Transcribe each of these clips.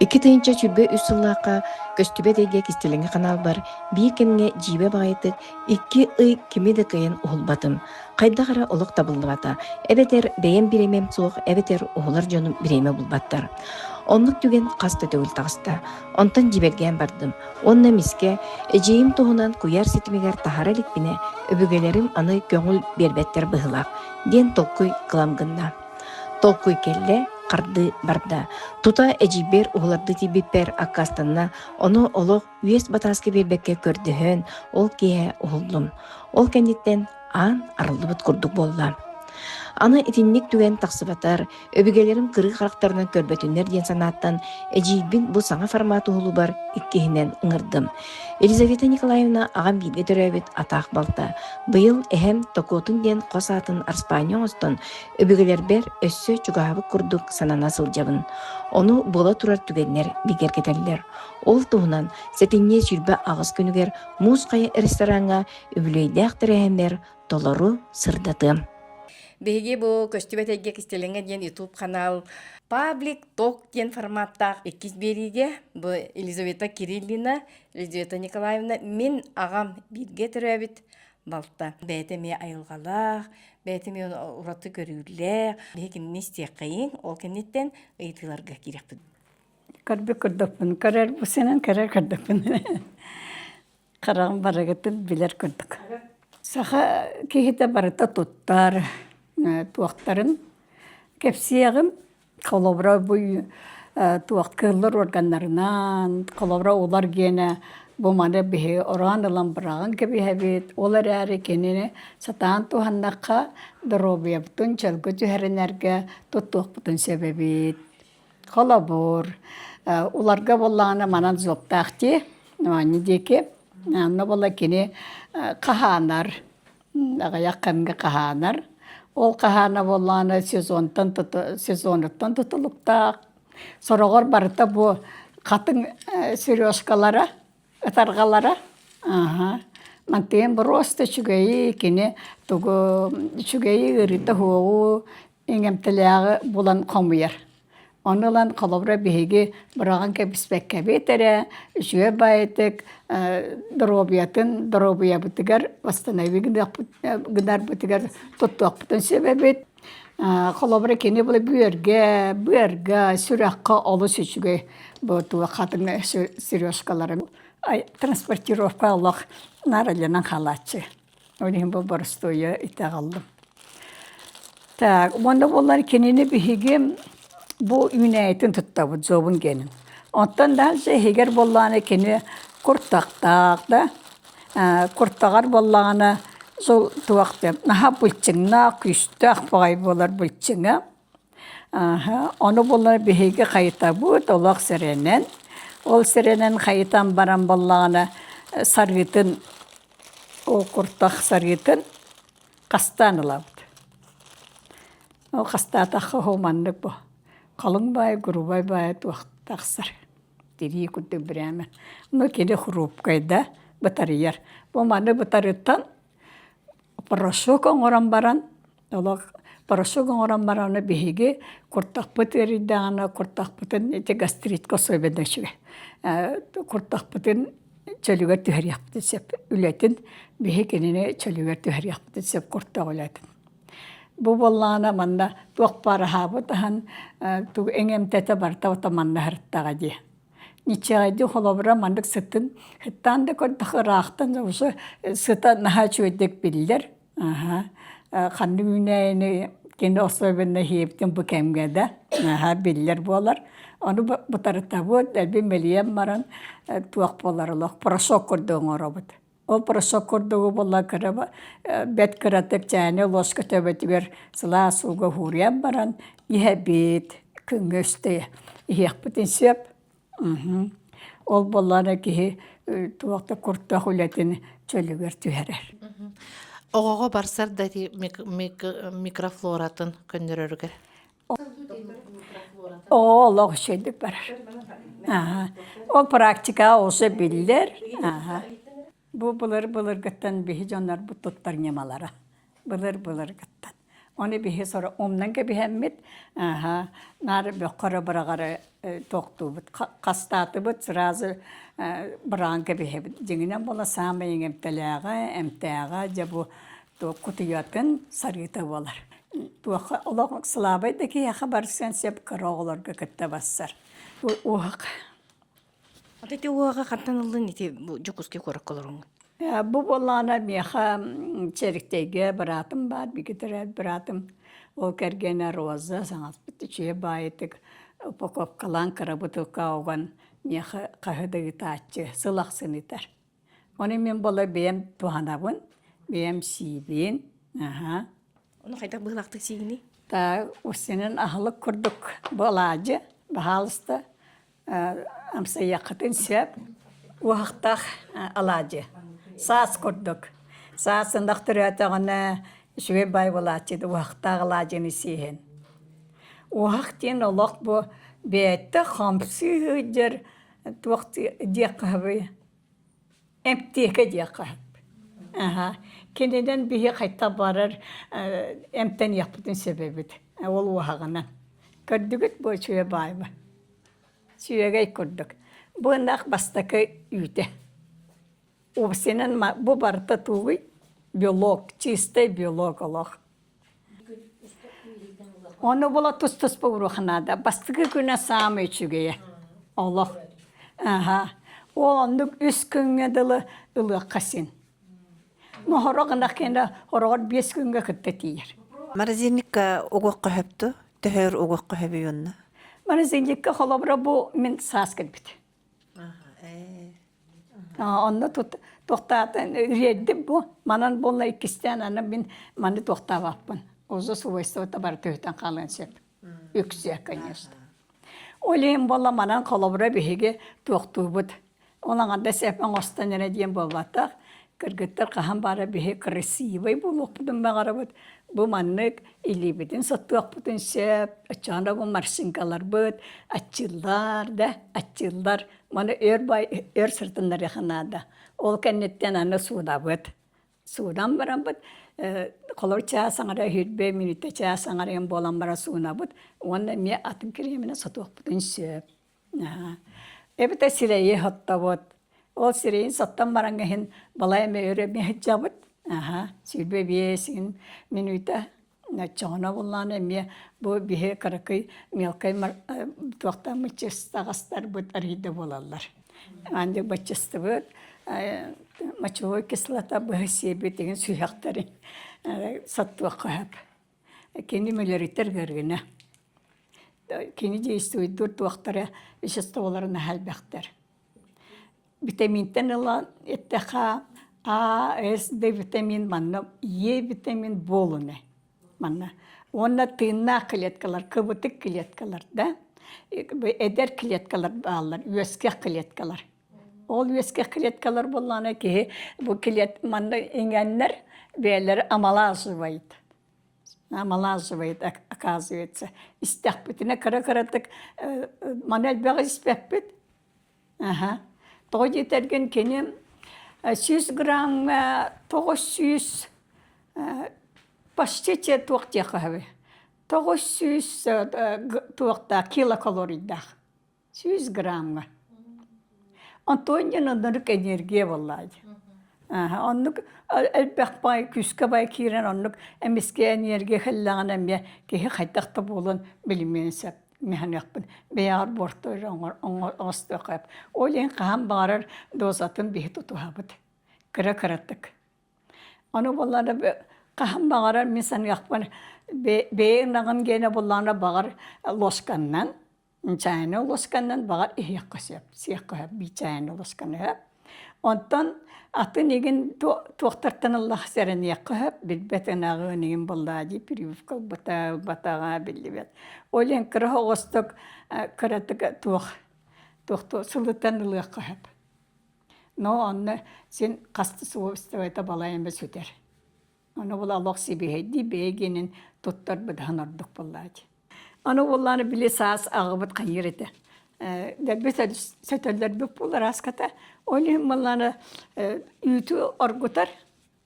Икки тыһыынча сүүрбэ үс сыллаахха көстүбэт эйгэ кистэлэҥи ханаалбар биир кэмҥэ дьиибэ баҕайытык икки ый кими да кыайан уһулбатым. Хайдах эрэ олох табыллыбата, эбэтэр бэйэм бириэмэм суох, эбэтэр уһулар дьонум бириэмэ булбаттар. Оннук түгэн хас да төгүл таҕыста. Онтон дьиибэргээн бардым. Уонна эмискэ эдьиийим туһунан куйаар ситимигэр таһара иликпинэ, өбүгэлэрим аны көҥүл биэрбэттэр быһыылаах, диэн толкуй кылам гынна. Толкуй кэллэ, хардыы барда. Тута эдьиийбэр уһулардыы тиийбиппэр аккаастанна, ону олох үөс батааска биэрбэккэ көрдөһөн, ол киэһэ уһуллум. Ол кэнниттэн аан арыллыбыт курдук буолла. Аны итинник түгэн тахсыбатар, Өбүгэлэрим кырыы харахтарынан көрбөтүннэр диэн санааттан эдьиийбин бу саҥа формат уһулубар иккиһинэн ыҥырдым. Елизавета Николаевна аҕам бииргэ төрөөбүт атаах балта. Быйыл эһэм Токотун диэн хос аатын арыспаанньа оҥостон, өбүгэлэрбэр өссө чугаһабыт курдук санана сылдьабын. Ону буола турар түгэннэр бигэргэтэллэр. Ол туһунан сэтинньи сүүрбэ аҕыс күнүгэр Муус Хайа рестораҥҥа үбүлүөйдээх тэрээһиннэр толору сырдатыам. Биһиги бу көстүбэт эйгэ кистэлэҥэ диэн YouTube канал Public Talk диэн форматтаах иккис биэриигэ бу Елизавета Кириллина, Елизавета Николаевна мин аҕам бииргэ төрөөбүт балта. Бэйэтэ эмиэ айылҕалаах, бэйэтэ эмиэ ураты көрүүлээх, биһи кинини истиэххэйиҥ, ол кэнниттэн ыйытыыларга киириэхпит. Көрбү көрдөхпүн, көрөр бу сенен көрөр көрдөхпүн. хараҕым барыгытын билэр курдук саха киһитэ барыта туттар туохтарын кэпсиэҕим холобура буй туох кыыллар органнарынан холобура улар гиэнэ бу маны биһи ороон ылан быраҕан кэбиһэбит ол эрээри кинини сатаан туһаннахха доруобуйабытын чөлгө түһэринэргэ туттуохпутун сөбөбүт Холобур, уларга буоллаҕына манан зуоптаах дии, ону диэки онно буола кини хаһаанар, аҕыйах кэмҥэ хаһаанар. Ол хаһаана буоллаҕына сезонтан сезонуттан тутулуктаах. Сороҕор барыта бу хатыҥ сережкалара, ытарҕалара аһа мантыйан боруоста үчүгэйи, кини тугу үчүгэйи ыарыыта-суоҕу эҥэмтэлээҕи булан хомуйар. Ону ылан холобура биһиги быраҕан кэбиспэккэбит эрэ үчүгэй баайытык доруобуйатын доруобуйабытыгар восстанови гынарбытыгар туттуохпутун сөбөбүт. Холобура кини бу бүөргэ, быарга, сүрэххэ олус үчүгэй бу туох хатыҥ сережкаларын транспортировка олох наралынан хаалааччы. Ол иһин бу боростуойа итэҕэллим. Так, уонна буоллар кинини биһиги бу үүнээйитин туттабыт, зобун генин. Оттон дальше иһигэр буоллаҕына кини куртахтаах да, куртаҕар буоллаҕына сол туох да наһаа былчыҥнаах, күүстээх баҕайы буолар былчыҥа. Ааһа, ону була биһиги хайытабыт олох сэрэнэн. Ол сэрэнэн хайытан баран буоллаҕына сарыытын уу куртах сарыытын хастаан ылабыт. Ол хастаатахха оһу маннык бу халыҥ баай, грубай баай туох тахсар тирии курдук бирээмэ. Ну кини хрупкай да бытарыйар. Бу маны бытарыттан порошок оҥорон баран олох порошок оҥорон бараары биһиги куртахпыт ыарыйдаҕына куртахпытын ити гастритка особенно үчүгэй куртахпытын чөлүгэр түһэриэхпитин сөп үлэтин биһи кинини чөлүгэр түһэриэхпитин сөп куртах үлэтин бу буоллаҕына манна туох баар аһаабыт аһан тугу эҥэмтэтэ барта ото манна һырыттаҕа дии ниччэҕэйди холобура маннык сытын сыттаан да көрдөх ыраахтан уже сыта наһаа үчүгэйдик биллэр Аһа, ханнык үүнээйини кини особенно иһиэбитин бу кэмгэ да наһаа биллэр буолар. Ону бытарытабыт, дэлби мэлийэн баран туох буолар олох порошок курдук оҥоробут. Ол порошок курдугу була кыра бэт кыратык чайнай луоска төбөтүгэр сылаас ууга ууруйан баран иһэбит, күҥҥэ үстэ иһиэхпитин сөп. Ол буоллаары киһи туох да куртах үлэтин чөлүгэр түһэрэр. Оҕоҕо барсар да ити микрофлоратын көннөрөрүгэр. Оо олох үчэйдик барар. Ол практикаҕа ууса биллэр. Бу былыр-былыргыттан биһи дьоннорбут туттар ньымалара былыр-былыргыттан. Ону биһи сора умнан кэбиһэммит, аһа, нары бөххөрө быраҕары тохтуубут, хастаатыбыт сразу быраан кэбиһэбит. Дьиҥинэн буола саамай эмтэлээҕэ, эмтээҕэ дьэ бу кутуйатын сарыыта буолар. Туохха олох слабай да киһиэхэ барсыан сөп кыра оҕолорго кытта барсар. Уһук Ата ити уҕаҕа хантан ыллыҥ ити бу Дьокуускай куоракка олоруҥ? Ээ, бу буоллаҕына миэхэ Чэриктэйгэ быраатым баар, бигитэрэ быраатым, ол кэргэнэ Роза, саҥаспыт үчүгэй баайытык, упаковкалаан кыра бутылкаҕа уган миэхэ хаһы да ыытааччы, сыл ахсын ыытар. Ону мин буола бэйэм туһанабын, бэйэм сиибин, аһа. Ону хайдах быһыылаахтык сиигиний? Та, устинын аһылык курдук буолаадьы, баһаалыста амсайыаххытын сөп уһахтах алаадьы саас курдук саас сындах төрөөтөҕүнэ үчүгэй бай буолааччыт уһахтаах алаадьыны сииһин уһах диэн олох бу бэйэтэ хамсыы сылдьар туох диэх хаһый Эмтиэкэ диэххэ сөп. Аһа, кининэн биһи хайтан барар эмтэниэхпитин сөбөбүт. Ол уоһаҕынан. Көрдүгүт буо сүө баайба? Сүөгэй курдук. Бу ынах бастакы үүтэ. Убсинан бу барыта тууй белок, чистай белок олох. Ону була тус-туспа уруха наада. Бастакы күнэ саамай үчүгэйэ. Олох. Аһа. Ол оннук үс күҥҥэ дылы ылыахха син. Ну хороҕ ынах кэнэ хороҕор биэс күҥҥэ кытта тиийэр. Морозильникка угуохха хөптө? Төһөр угуохха хөбүй онно? Морозильникка холобура бу мин саас кэлбит. Онно тохтаатан үөрдүм бу манан буолла иккистээн аны мин маны тохтообоппун уже свойствота бары түһүтэн хаалыан сөп үксэ конечно ол иһин буолла манан холобура биһиги туохтуубут ол аҥарда сэп оҥостон эрэ диэн буолбатах кыргыттар хаһан баара биһи красивый буолуохпутун баҕарабыт бу маннык илиибитин соттуохпутун сөп оччоҕуна марсиҥкаларбыт аччыыллар да аччыыллар маны өр бай өр сырытыннарыаха наада ол кэнниттэн аны суунабыт суунан бараммыт холор чаас аҥара үһүрбэ мүнүүтэ чаас аҥарыйан буолан баран суунабыт уонна эмиэ атын кириэминэ сотуохпутун сөп эбэтэ сирэйи оттобут ол сирэйин соттон баран иһин балай эмэ өрөмү сыдьабыт аһа сүүрбэ биэсин мүнүүтэ оччоҕуна буллаҕына эмиэ бу биһи кыракый мелкай туохтан мыччыстаҕастарбыт арыйда буолаллар андык баччыстыбыт мочевой кислота быһы сиэбитигин сүһэхтэри соттуохха сөп Кини мөлөрүтэр гыргына кини действуйдуур туохтара веществоларын аһайбахтар. Витаминтан ылан эттэхэ А, С, D витамин манна Е витамин буолуна манна уонна тыыннаах клеткалар кыбытык клеткалар да эдэр клеткалар бааллар үөскэх клеткалар Ол үөскэх клеткалар буоллаана киһи бу клет манна иҥэннэр бэйэлэрэ амалаасыбайт амалаасыбайт оказывается истэхпитинэ кыра-кыратык маны элбэҕи испэппит аха тоҕо диэтэргин кини сүүс грамҥа тоҕус сүүс почтите туох диэххэ тоҕус сүүс туохтаах килокалорийдаах сүүс грамҥа. Антонин оннук энергия буоллаадь. Оннук элбэх бай күүскэ бай киирэн оннук эмискэ энергия хэллэҕин эмиэ киһи хайдах да буолан билимиэн сөп механехпын бэйэҕэр буортуйар оҥостохоп ол иһин хаһан баҕарар дозатын биһи тутуһабыт кыра кыратык ону боллана хаһан баҕарар мин саныахпын бэйэ ынаҕым гиэнэ буллаҕына баҕар лосканнан чайна уласканнан баҕа иһиэххэ сөп сиэххэ сөп бии чайна уласканы сөп онтон атын игин туохтартан ыллах сэрэниэххэ сөп билбэт ынаҕын игин быллаадии прививка ылбата ылбатаҕа биллибэт ол иһин кыра оҕосток кыратык туох туохту сылытан ылыахха сөп но онно син хаста свойствота балай эмэ сүтэр Ону була олох сибиһэйдии бэйэгинин туттар быдаһын ордук буллаачы. Ону буллааны били саас аҕыбыт хайыр этэ. Дэрбит сөтөллөрбүт пул арааската. Ол иһин маллааны үүтү оргутар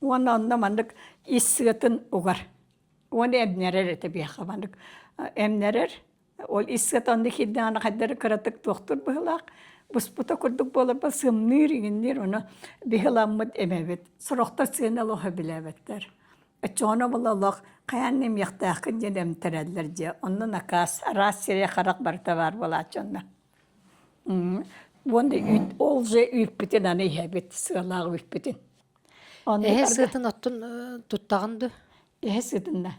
уонна онно маннык ис сыатын угар. Уону эмнэрэр этэ биһиэхэ маннык эмнэрэр Ол исset онно киирдэҕинэ хайдары кыратык туохтур быһылаах буспута курдук буоларба сымныыр, иҥинниир ону быһыламмыт имэбит. Сорохтор сыана олоһо билээбэттэр. Оччоҕуна була олох хайаан да имиэхтээххин диэн эмтэрэллэр дьэ онно накаас араас сирэй-харах барыта баар буолааччы онно. Уонна үүт ол дьэ үүппүтүн аны иһэбит сыалаах үүппүтүн. Эһэ сыатын оттон туттаҕын дуо? эһэ сытына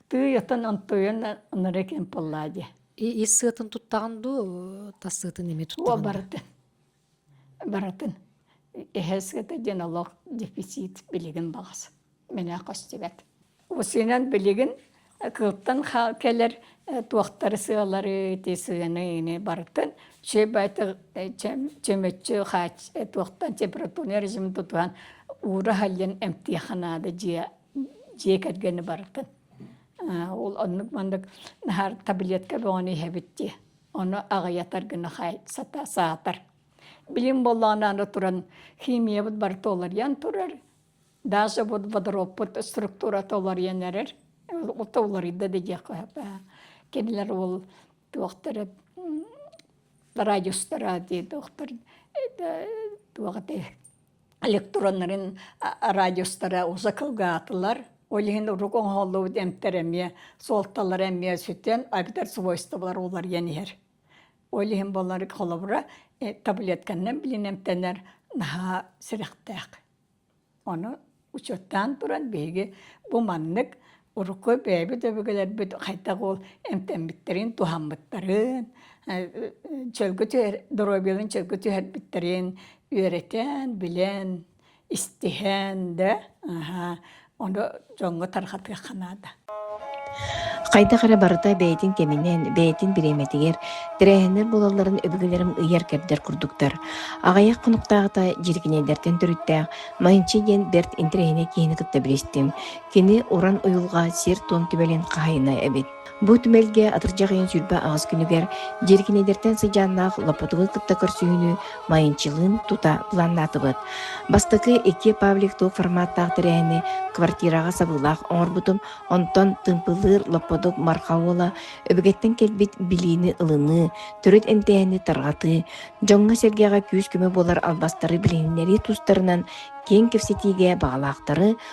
тыый отон онтуйан оноро кэм полла дия ис сыатын туттаҕын дуу тас сыатын эми туттаҕын барытын барытын эһэ сыата диэн олох дефицит билигин баҕас мэнэ хостибет усинан билигин кылтан кэлэр туохтары сыалары ти сыаны барытын чебайты чөмөччү хач туохтан температурный режим тутуһан уура халлын эмтиаханаада дия дьиэ кэргэни барытын ол оннук маннык наһаа таблетка бөҕөнү иһэбит дии ону аҕыйатар гына саатар билим буоллаҕына аны туран химиябыт бары толоруйан турар даже вот водороппут структура толоруйан эрэр толоруйда да диэххэ кинилэр ол туохтара радиустара дии доктор туох этэй электроннарын радиустара уза кылгаатылар ол иһин урук оҥоһуллубут эмтэр эмиэ суолталара эмиэ сүтэн агдар свойстволар уларыйан иһэр ол иһин буолар холобура таблетканан билин эмтэнэр наһаа сэрэхтээх ону учуоттаан туран биһиги бу маннык Урукку бэйэбит өбүгэлэрбит хайдах ол эмтэммиттэрин, туһаммыттарын, чөлгө түһэр, доруобуйаларын чөлгө түһэрбиттэрин үөрэтэн, билэн, истиһэн, да ону дьоҥҥо тарҕатыахха наада. Хайдах эрэ барыта бэйэтин кэминэн, бэйэтин бириэмэтигэр тэрээһиннэр буолалларын өбүгэлэрим ыйар-кэрдэр курдуктар. Аҕыйах хонуктааҕыта Дьирикинэйдэртэн төрүттээх Манчи диэн бэрт интэриэһинэй киһини кытта билистим. Кини уран уйулҕа сир-туом түмэлин хаһайына эбит. Бу түмэлгэ атырдьаҕайын сүүрбэ аҕыс күнүгэр дьиэркинэйдэртэн сыдьааннаах Лопотовы кытта көрсүһүүнү майынчылыын тута планнаатыбыт. Бастакы икки Павлик туох форматтаах тэрээһини квартираҕа сабыылаах оҥорбутум, онтон тымпылыыр Лопотов Мархаола өбүгэттэн кэлбит билиини ылыныы, төрүт эмтээһини тарҕатыы, дьоҥҥо-сэргэҕэ күүс-көмө буолар албастары билиһиннэрии тустарынан киэҥ кэпсэтиигэ баҕалаахтары